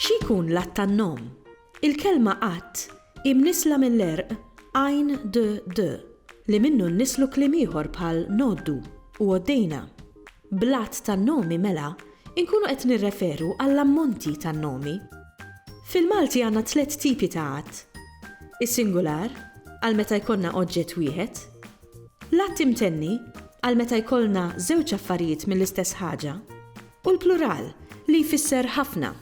Xi jkun l-att tan-nom? Il-kelma att hi mnissla mill-għerq għajn d, d, li minnu nnislu kliem ieħor bħal ngħoddu u għoddejna. Bl-għadd tan-nomi mela nkunu qed nirreferu għall-ammonti tan-nomi. Fil-Malti għandna tliet tipi ta' għadd, is-singular, għal meta jkollna oġġett wieħed, l-għadd imtenni, għal meta jkollna żewġ affarijiet mill-istess ħaġa, u l-plural, li jfisser ħafna.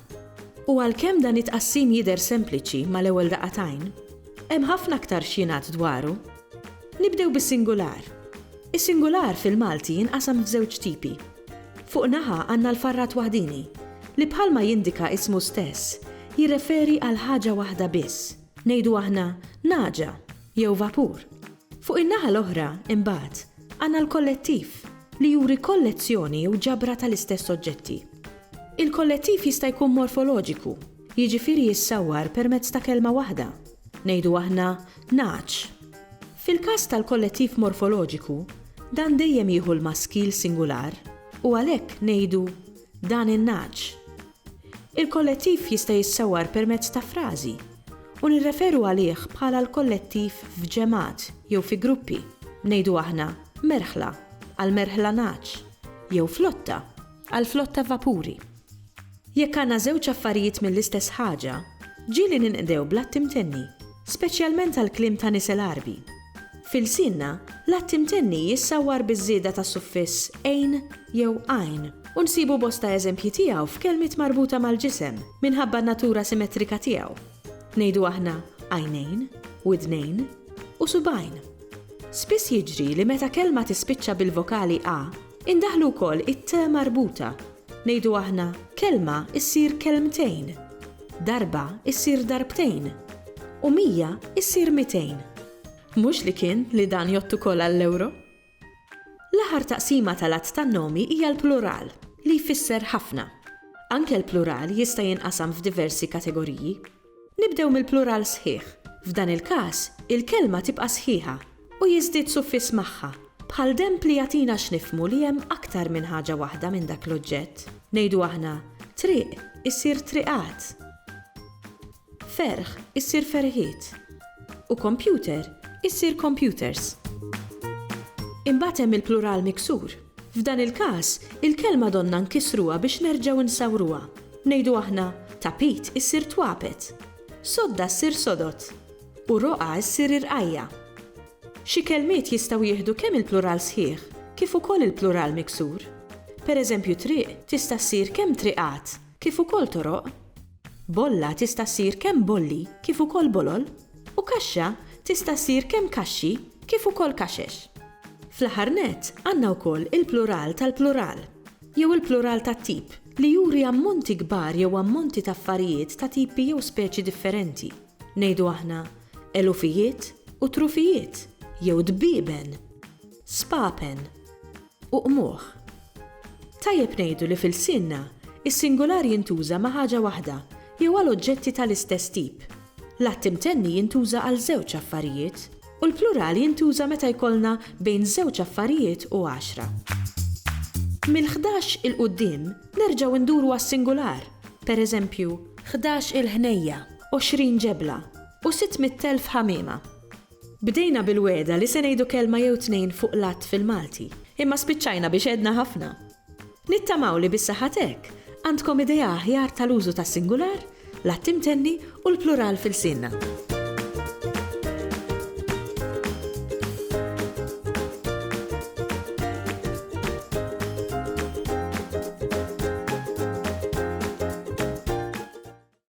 U għalkemm dan it-tqassim jidher sempliċi mal-ewwel daqqa t'għajn, hemm ħafna aktar x'jingħad dwaru. Nibdew bis-singular. Is-singular fil-Malti jinqasam f'żewġ tipi. Fuq naħa għandna l-farrat waħdieni, li bħalma jindika ismu stess, jirreferi għal ħaġa waħda biss, ngħidu aħna nagħġa jew vapur. Fuq in-naħa l-oħra, imbagħad, għandna l-kollettiv, li juri kollezzjoni jew ġabra tal-istess oġġetti. Il-kollettiv jista' jkun morfoloġiku, Jiġifieri jissawwar permezz ta' kelma waħda, ngħidu aħna nagħaġ. Fil-każ tal-kollettiv morfoloġiku, dan dejjem jieħu l-maskil singular u għalhekk ngħidu dan in-nagħaġ. Il-kollettiv jista' jissawwar permezz ta' frażi u nirreferu għalih bħala l-kollettiv f'ġemgħat jew fi gruppi, ngħidu aħna merħla għall-merħla nagħaġ jew flotta. għall-flotta vapuri. Jekk għandna żewġ affarijiet mill-istess ħaġa, ġieli ninqdew bl-att imtenni, speċjalment għall-kliem ta' nies l-Għarbi. F'ilsienna, l-att imtenni jissawwar biż-żieda ta' suffiss ejn jew għajn u nsibu bosta eżempji tiegħu f'kelmiet marbuta mal-ġisem minħabba n-natura simetrika tiegħu. Ngħidu aħna għajnejn, widnejn, u subgħajn. Spiss jiġri li meta kelma tispiċċa bil-vokali a, Indaħħlu wkoll it-te marbuta. Ngħidu aħna, kelma ssir kelmtejn, darba ssir darbtejn, u mija ssir mitejn. Mhux li kien li dan jgħodd ukoll għall-ewro? L-aħħar taqsima tal-għadd tan-nomi hija l-plural, li jfisser ħafna. Anke l-plural jista' jinqasam f'diversi kategoriji. Nibdew mill-plural sħiħ. F'dan il-każ, il-kelma tibqa' sħiħa u jiżdied suffiss magħha, bħal demb li jagħtina x'nifhmu li hemm aktar minn ħaġa waħda minn dak l-oġġett. Ngħidu aħna, triq issir triqat, ferħ issir ferħiet u computer issir computers. Imbagħad hemm il-plural miksur. F'dan il-każ, il-kelma donna nkissruha biex nerġgħu nsawruha. Ngħidu aħna, Tapit issir twapet. Sodda ssir sodot. U roqgħa ssir irqajja. Xi kelmiet jistgħu jieħdu kemm il-plural sħiħ kif ukoll il-plural miksur. Pereżempju triq tista' ssir kemm triqat kif ukoll toroq. Bolla tista' ssir kemm bolli kif ukoll bolol, u kaxxa tista' ssir kemm kaxxi kif ukoll kaxex. Fl-aħħar nett, għandna wkoll il-plural tal-plural, jew il-plural tat-tip, li juri ammonti kbar jew ammonti ta' affarijiet ta' tipi jew speċi differenti, ngħidu aħna, elufijiet u trufijiet, jew dbieben, spapen. u qmuħ. Tajjeb ngħidu li f'ilsienna, is-singular jintuża ma' ħaġa waħda jew għal oġġetti ta' l-istess tip. L-att imtenni jintuża għal żewġ affarijiet, u l-plural jintuża meta jkollna bejn żewġ affarijiet u għaxra. Mill-ħdax 'il quddiem nerġgħu nduru għas-singular, per eżempju, ħdax-il ħnejja, għoxrin ġebla, u sitt mitt elf ħamiema. Bdejna bil-wegħda li se ngħidu kelma jew tnejn fuq l-għadd fil-Malti, imma spiċċajna biex għedna ħafna. Nittamaw li bis-saħħa t'hekk għandkom idea aħjar tal-użu tas-singular, l-għadd imtenni u l-plural f'ilsienna.